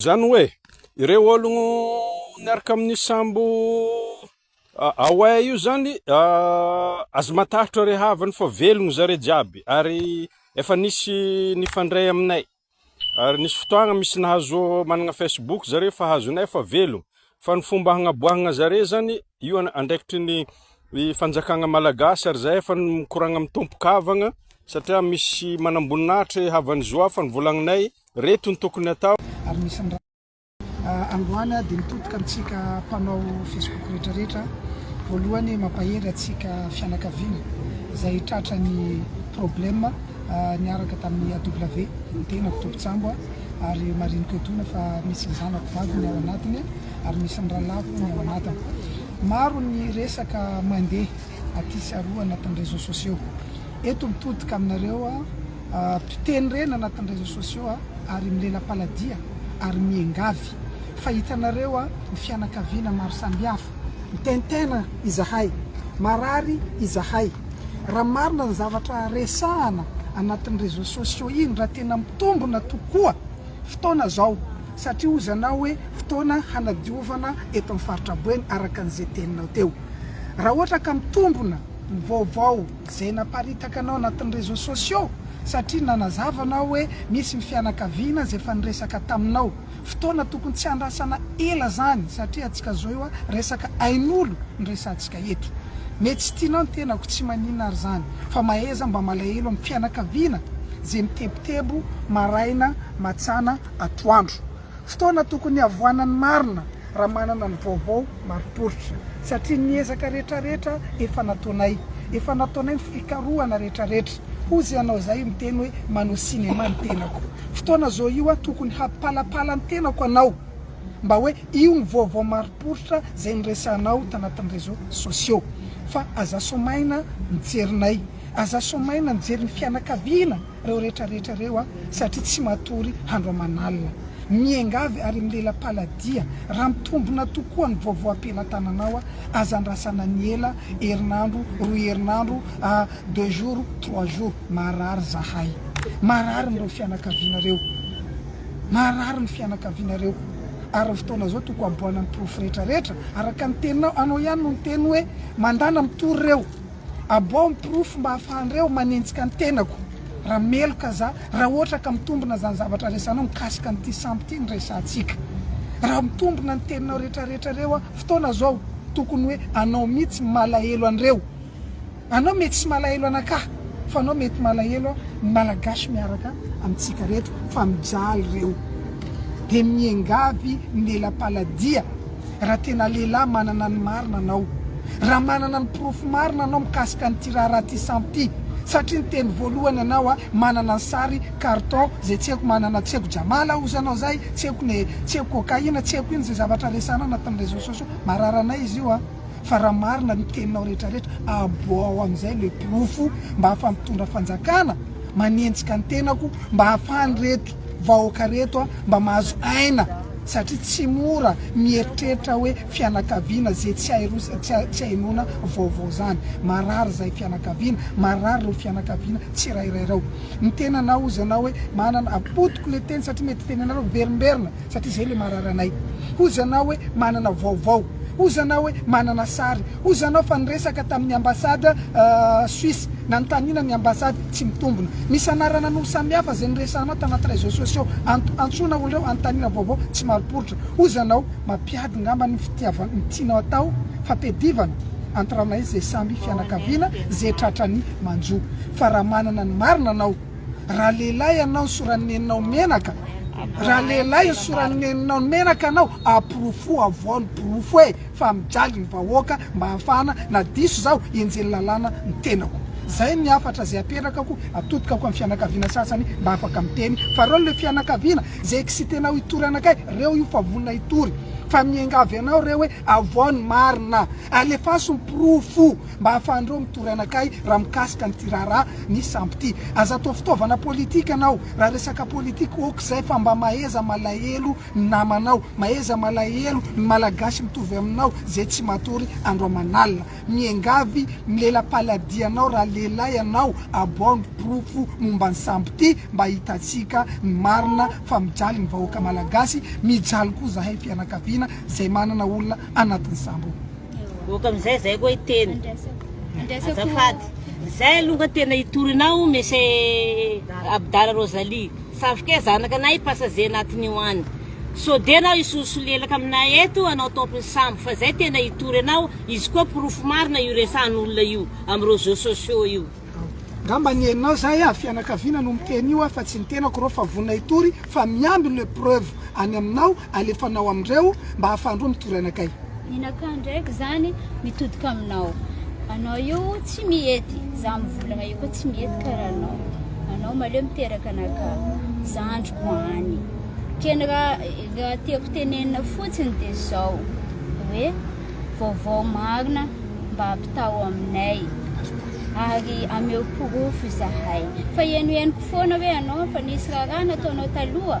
Izany hoe, ireo ologno niaraka amin'io sambo Away io izany, aza matahotra ry havany fa velogno zareo jiaby ary efa nisy nifandray aminay, ary nisy fotoagna misy nahazo managna Facebook zareo fa hazonay fa velogno. Fa ny fomba hagnaboahagna zare zany io andraikitry ny fanjakagna malagasy ary zahay efa mikoragna amin'ny tompo kavagna satria misy manamboninahitry havan'ny zo hafa ny volagninay reto ny tokony atao. Ary misy ny raha androany dia mitodika amintsika mpanao facebook rehetra rehetra voalohany mampahery antsika fianakaviana izay tratra ny problème. niaraka tamin'ny AW ny tenako tompon-tsambo ary mariniko etoana fa misy ny zanako vavy ny ao anatiny ary misy ny rahalahiko ny ao anatiny. Maro ny resaka mandeha aty sy aroa anatin'ny réseaux sociaux. Eto mitodika aminareo mpiteny reny anatin'ny réseaux sociaux ary milela-paladia ary miengavy fa hitanareo ny fianakaviana maro samihafa. Mitaintaina izahay, marary izahay. Raha marina ny zavatra resahana anatin'ny réseaux sociaux iny, raha tena mitombona tokoa fotoana izao, satria hozy anao hoe fotoana hanadiovana eto amin'ny faritra Boeny araka an'izay teninao teo. Raha ohatra ka mitombona ny vaovao izay naparitaka anao anatin'ny réseaux sociaux, satria nanazava anao hoe misy ny fianakaviana izay efa niresaka taminao, Fotoana tokony tsy handrasana ela zany satria atsika zao io a resaka ainolo no resatsika eto. Mety tsy tianao ny tenako tsy maninona ary zany fa mahaiza mba malahelo am fianakaviana ze mitebotebo maraina matsana atoandro. Fotoana tokony hiavoana ny marina. raha manana ny vaovao marim-poritra, satria ny ezaka rehetrarehetra efa nataonay, efa nataonay ny fikarohana rehetrarehetra, hozy ianao izay miteny hoe manao cinéma ny tenako, fotoana zao io a tokony hampipalapala ny tenako anao mba hoe io ny vaovao marim-poritra izay niresahanao tanatin'ny réseaux sociaux, fa aza soamaina mijery nay, aza soamaina mijery ny fianakaviana. Reo rehetra rehetra reo a satria tsy matory handro aman'alina. Miengavy ary milela-paladia raha mitombona tokoa ny vaovao am-pelatananao a aza andrasana ny ela herinandro roa herinandro a deux jours trois jours marary zahay marary ny reo fianakaviana reo marary ny fianakaviana reo ary reo fotoana zao toko haboana ny porofo rehetra rehetra araka ny teninao anao ihany no niteny hoe mandana mitory reo Abao ny porofo mba afahanreo manenjika ny tenako raha meloka za, raha ohatra ka mitombina zany zavatra resanao mikasika an'ity sambo ity ny resahantsika. Raha mitombina ny teninao retraretra reo an, fotoana zao tokony hoe anao mitsy malahelo anreo. Anao mety tsy malahelo anakà fa anao mety malahelo an ny malagasy miaraka amitsika reto fa mijaly reo de miengavy ny lela-paladia. raha tena lehilahy manana ny marina anao, raha manana ny porofo marina anao mikasika an'ity raharaha ity sampy ity, satria ny teny voalohany anao a manana ny sary carton zay tsy haiko manana tsy haiko jamala aho ozy anao zay tsy haiko ne tsy haiko cocaïne tsy haiko ino zay zavatra resana anatin'ny réseaux sociaux marary anay izy io a fa raha marina ny teninao rehetra rehetra aboaho amizay le porofo mba hafa mitondra fanjakana manenjika ny tenako mba hafan'ireto vahoaka reto a mba mahazo aina satria tsy mora mieritreritra hoe fianakaviana ze tsy hay roa tsy hay noana vaovao zany, marary zay fianakaviana, marary reo fianakaviana tsirairay reo, ny tenanao ozy anao hoe manana, apotiko le teny satria mety tenenareo miverimberina satria zay le marary anay, ozy anao hoe manana vaovao, ozy anao hoe manana sary, Hoy zany aho fa niresaka tamin'ny ambassade Suisse nanontaniana ny ambassade tsy mitombina. Misy anarana no samihafa izay niresahanao tanaty réseaux sociaux anto antsoina olo reo anontaniana vaovao tsy marim-poritra. Hoy zanao mampiady ngamba ny fitiava ny tianao atao fa tedivana antiranay zay samy fianakaviana ze tratrany manjo fa raha manana ny marina anao raha lehilahy anao soran'ny neninao menaka raha lehilahy soran'ny neninao menaka anao aporofo avoao ny porofo e! fa mijaly ny vahoaka mba hahafahana na diso zaho henjeny lalàna ny tenako zay ny hafatra zay aperakako atodikako am fianakaviana sasany mba afaka miteny fa reo le fianakaviana zay excitenao hitory anakay reo io fa vonona hitory fa miangavy anao reo hoe avoaho ny marina alefaso ny porofo mba hahafahanreo mitory anakay raha mikasika an'ity raharaha ny sampy ty aza atao fitaovana politika anao raha resaka politika ok zay fa mba mahaiza malahelo ny namanao maheza malahelo ny malagasy mitovy aminao zay tsy matory andro aman'alina miengavy milelapaladianao raha lehilahy ianao aboaho ny porofo momba ny sambo ty mba hitantsika ny marina fa mijaly ny vahoaka malagasy mijaly koa zahay fianakaviana zay manana olona anatin'ny sambo ok amizay zay koa hiteny azafady zay aloha tena hitory anao monsieur abdala rosalie Zavoka zanaka anay passager anatin'io any so de enao hisolsolelaka aminay eto hanao top ny sambo fa zay tena hitory anao izy koa porofo marina io resahan'olona io am roseaux sociaux io. Ngamba ny eninao zay a fianakaviana no miteny io a fa tsy ny tenako rô fa vonona hitory fa miambina preuve any aminao Alefanao amin'ireo mba hahafahan'ireo mitory anakay. Ninakà ndraiky izany mitodika aminao. Anao io tsy mihety, izaho mivolagna io koa tsy mihety karaha anao. Anao maleo miteraka anakà, zandriko any. Keny raha raha tiako tenenina fotsiny dia izao hoe vaovao marina mba ampitaho aminay ary ameo porofo izahay. Fa henohenoko foana hoe anao efa nisy raharaha nataonao taloha.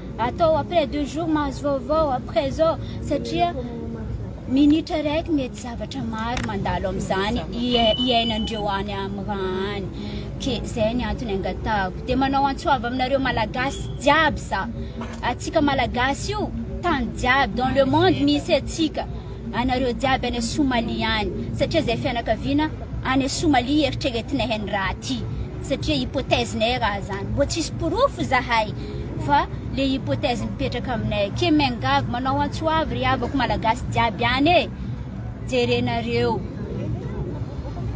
atao après deux jours mahazo vaovao après zao satria minitra raiky mety zavatra maro mandalo amizany iainandreo any am ra any ke zay ny antony angatahako de manao antsoava aminareo malagasy jiaby za atsika malagasy io tany jiaby dans le monde misy atsika anareo jiaby any Somalia any satria zay fianakaviana any Somalia eritreretinay any raha ty satria hypothèse nay raha zany mbô tsisy porofo zahay fa le hypothèse mipetraka aminay ake miangavy manao antso avy ry havako malagasy jiaby any e jerenareo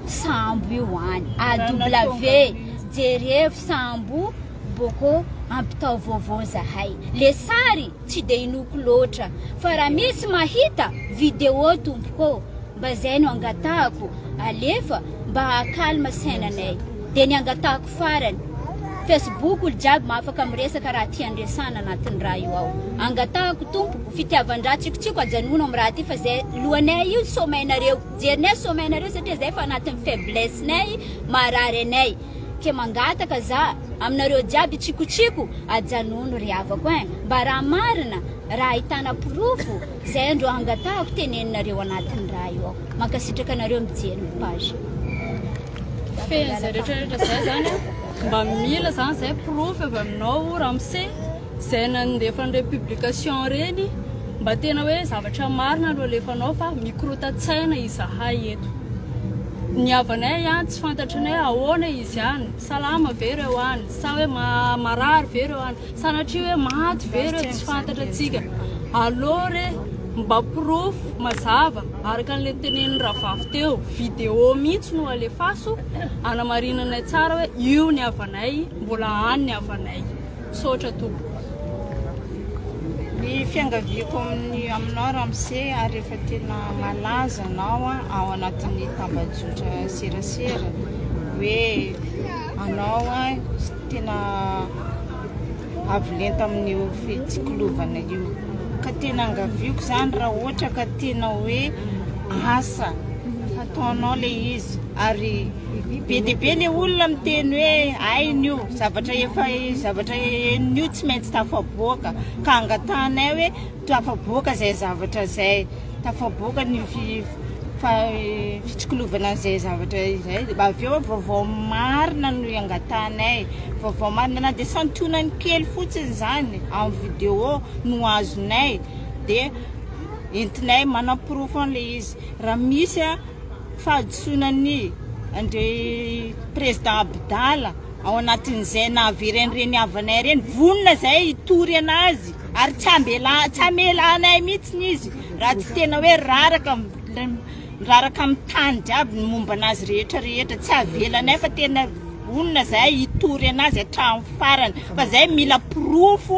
sambo io any AW jerevo sambo bôkô ampitao vôvô zahay le sary Tsy dia inoako loatra fa raha misy mahita video tompokô mba zay no angatahako alefa mba haha calme sainanay dia ny angatahako farany facebook olo jiaby mahafaka miresaka raha tia andresana anatiny raha io ao angatahako tompoko fitiavandraha tsikotsiko ajanogno am raha ty fa zay lohanay io sommeil nareo jerinay sommeil nareo satria zay fa anatiny faiblesse nay marary anay ke mangataka za aminareo jiaby tsikotsiko ajanony ry havako eh mba raha marina raha ahitana porofo zay andro hangatahako teneninareo anatiny raha io aho mankasitraka anareo mijery ny page fehiny zay retraretra zay zany mba mila zany zay porofo avy aminao ramose Izay nandefa an'ireny publication ireny mba tena hoe zavatra marina no alefanao fa mikorota-tsaina izahay eto. Ny havanay ihany tsy fantatrinay ahoana izy any, salama ve ireo any, sa hoe marary ve ireo any, sanatria hoe maty ve ireo tsy fantatra antsika. Allo re mba porofo mazava araka an'ilay tenenin'i Ravafy teo, video mihitsy no alefaso hanamarinanay tsara hoe io ny havanay, mbola any ny havanay. Misaotra tompoko. Ny fiangaviako amin'ny aminao Ramse ary efa tena malaza anao ao anatin'ny tambajotra serasera hoe anao tena avo lenta amin'io fitsikilovana io ka tena angaviako izany raha ohatra ka tena hoe asa fataonao le izy ary be dia be le olona miteny hoe ainy io Zavatra efa zavatra henon'io tsy maintsy tafaboaka ka angatahanay hoe tafaboaka izay zavatra izay, tafaboaka ny fitsikolovana an'izay zavatra izay, avy eo vaovao marina no iangatahanay, vaovao marina na dia santionany kely fotsiny izany amin'ny vidéo no azonay dia entinay manaporofo an'ilay izy raha misy. fahadisoana ny Andry président Abdala ao anatin'izay nahavery an'ireny havanay ireny, vonona izay hitory anazy ary tsy ambela tsy hamela anay mihitsy izy raha tsy tena hoe raraka raraka amin'ny tany jiaby ny momba anazy rehetra rehetra tsy avelanay fa tena vonona izay hitory anazy hatramin'ny farany fa izay mila porofo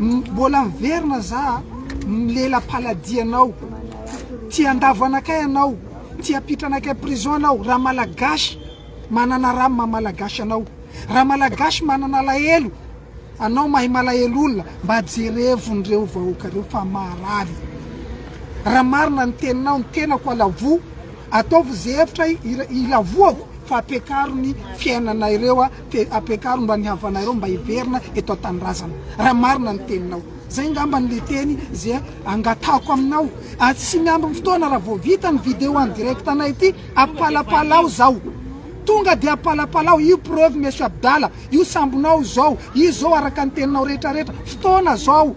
Mbola miverina za ny lela paladianao Tsy handavo anakay anao Tsy hampitra anakay prison anao Raha malagasy manana ra maha malagasy anao Raha malagasy manana alahelo Anao mahay malahelo olona Mba jerevo nireo vahoaka reo fa marary Raha marina ny teninao ny tenako alavo Ataovy ze hevitra hilavoako fa ampiakaro ny fiainana ireo ampiakaro mba ny havana ireo mba hiverina eto antanindrazana raha marina ny teninao zay ngambany le teny ze angatahako aminao ary tsy miambin ny fotoana raha vao vita ny video en direct anay ty ampalapalao zao tonga de ampalapalao io preuve monsieur Abdala io sambonao zao io zao araka ny teninao retraretra fotoana zao